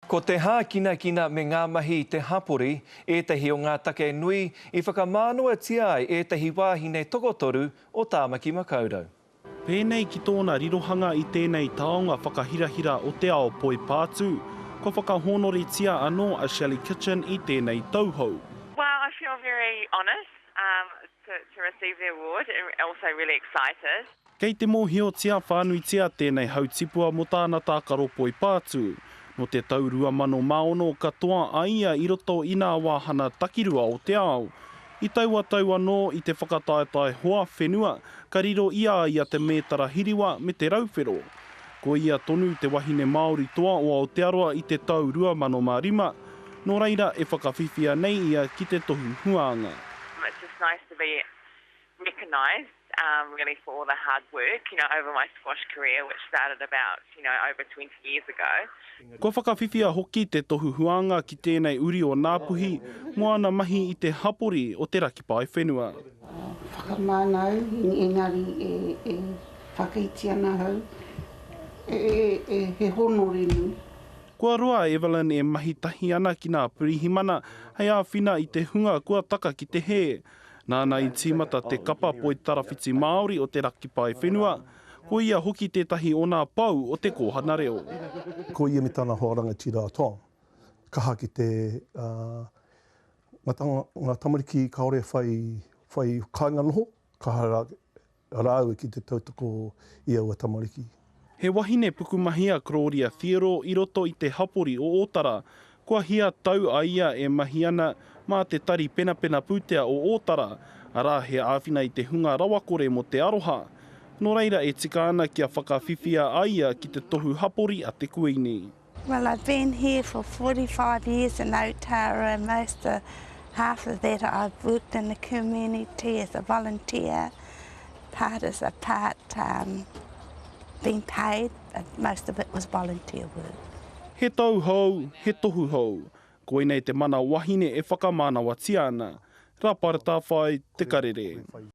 Ko te hākinakina me ngā mahi i te hapori ētahi o ngā take nui i whakamānawatia ai ētahi wāhine tokotoru o Tāmaki Makaurau. Pēnei ki tōna rirohanga i tēnei taonga whakahirahira o te ao poipātū, kua whakahōnoritia anō a Shelley Kitchen i tēnei tauhou. Well I feel very honoured to receive the award and also really excited. Kei te mōhiotia whānuitia tēnei hautipua mō tāna tākaro poi pātū. Nō te tau 2006 ka toa a ia i roto i nā wāhana takirua o te ao. I taua tau anō i te whakataetae hoa whenua ka riro i a ia te mētara hiriwa me te rauwhero. Ko ia tonu te wahine Māori toa o Aotearoa i te tau 2005, nō reira e whakawhiwhia nei ia ki te tohu huānga. recognised really for all the hard work you know over my squash career which started about you know over twenty years ago. Kua whakawhiwhia hoki te tohu huānga ki tēnei uri o Ngāpuhi mō ana mahi i te hapori o te raki paewhenua. Whakamānau, engari e whakaiti ana ahau he hōnore nui. Kua roa a Evelyn e mahi tahi ana ki ngā pirihimana hei āwhina i te hunga kua taka ki te hē. Nāna i tīmata te kapa Poitarawhiti Māori o te Rakipae Whenua, ko ia hoki tētahi o nā pou o te kōhana reo. Ko ia me tana hoa rangatira a Tom, kaha ki te ngā tamariki kāore e whai kāinga noho, kaha rā Rāua ki te tautoko i aua tamariki. He wahine pukumahi a Clodia Thiero i roto i te hapori o Ōtara. Kua hia tau a ia e mahi ana mā te Tari Penapena Pūtea o Ōtara, arā he āwhina i te hunga rawakore mō te aroha. Nō reira e tika ana kia whakawhiwhia a ia ki te tohu hapori a te Kuini. Well I've been here for 45 years in Aotearoa most of half of that I've worked in the community as a volunteer part as a part um, being paid but most of it was volunteer work. He tau hou, he tohu hou. Koinei te mana wahine e whakamānawatia ana. Raparta whai Te Karere.